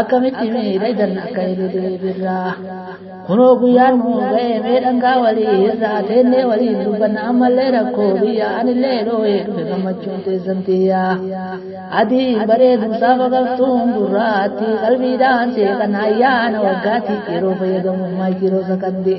akkamitti miidhagdan akka ililii birraa kunoo guyyaan nu ga'e mee dhangaa walii irraa teennee waliin dubbanna ammallee rakkoo biyya anillee dhooye dhufe gammachuun teessan tiyya adii bareedu saafa galtuun gurraatti qalbiidhaan seeqan ayyaana waggaatti yeroo fayyadamu maayikiroo sakandee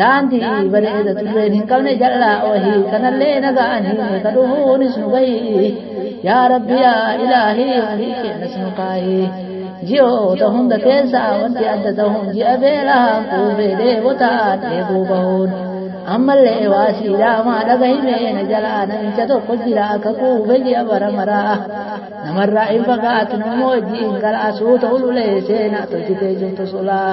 daandii bareeda turreen hin qabne jal'aa wahii kanallee naga'anii ka dhufuunis nu gahii yaa rabbi yaa ilaahii ofii keenyas nu kaahii ji'oota hunda keessa wanti adda ta'uun ji'a beelaa kuufee deebotaa dheebuu bahuun ammallee waa siidaamaa dhagahimee na jalaa namicha tokko jira akka kuufe ji'a bara maraa namarraa hin fagaatu nammoo wajjiin gara asuu ta'u lulee seenaa tolchitee jirtu sulaa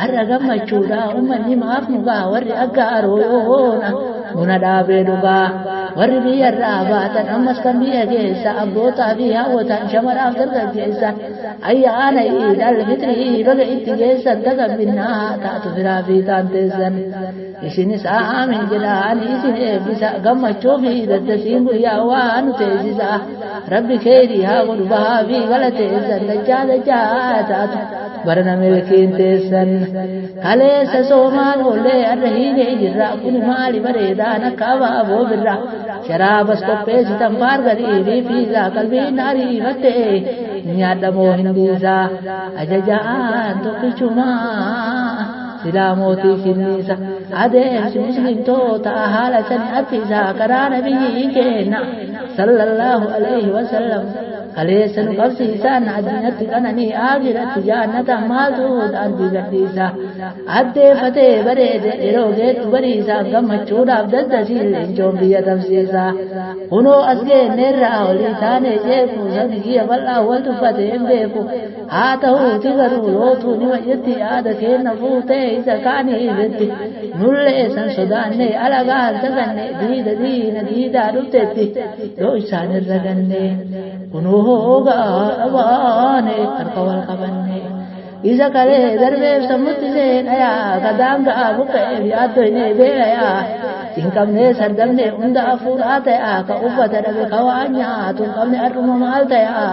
Har'a gammachuudha uummanni maaf nu ga'a warri akka aroona buna dhaabee dhugaa. Warri biyyarraa baatan ammas kan biyya keessa abbootaa fi hawwataan shamaraaf dargaggeessa ayyaana iidal fitrii baga itti geessan tagambinnaa taatu firaa fi taanteessan. Isinis aamiin jedhaa ani isin eebbisa gammachuu fi daddasiin guyyaa waa nu teessisa rabbi keeyrii haa godhu bahaa fi gala teessan dachaa dachaa taatu barana milkiin teessan kaleessa soomaan oollee adda hiinee jirra kun maali bareedaan akka abaaboo birra sharaabas qopheessitan baargarii fi fiizaa qalbiin ariifattee nyaadhamoo hin dhiisaa ajajaan tokkichumaa. silaa mootii finniisa adeemsi muslimtoota haala sani affisaa karaa nabiyyii keenna sallallahu alayhi wasallam kaleessa nu qabsiisaan addunyaatti qananii aakiratti jaannata maaltu daandii gadhiisa addeeffatee bareede yeroo geettu bariisaa gammachuudhaaf daddasiin leencoon biyya tamsiisa kunoo as geenneerraa olii taanee jeeku sabiyya bal'aa wal tuffatee hin beeku haa ta'uuti garuu lootuu nima jetti yaada keenna fuutee isa kaanii jetti nullee san sodaannee alagaan taganne diida diina diidaa dhuftetti yoo isaan irra ganne kunuu hoogaa dhabaane harka wal qabanne isa kalee darbeef sammutti seenayaa ka daangaa buqqa'eef yaaddoyne beelayaa hin qabne sardamne hunda afuudhaa ta'aa ka uffata dhabe ka waan nyaatu hin qabne har'uma maal ta'aa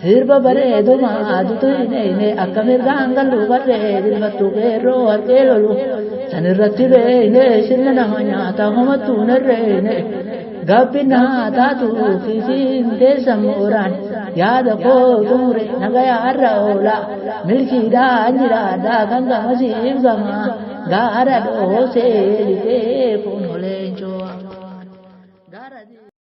Sirba bareeduma adutu hin eeyne akka mirgaan gallu barree dirmattu qeerroo warqee lolu san irratti beeyne sirna nama nyaata homattu hin herreeyne gabbinna haa taatu fiifiin teessa mooraan yaada koo xumure nagaya har'a oola milkiidhaan jiraadhaa kan gamasiif gama gaara dhoosee lixee kun oleencoo.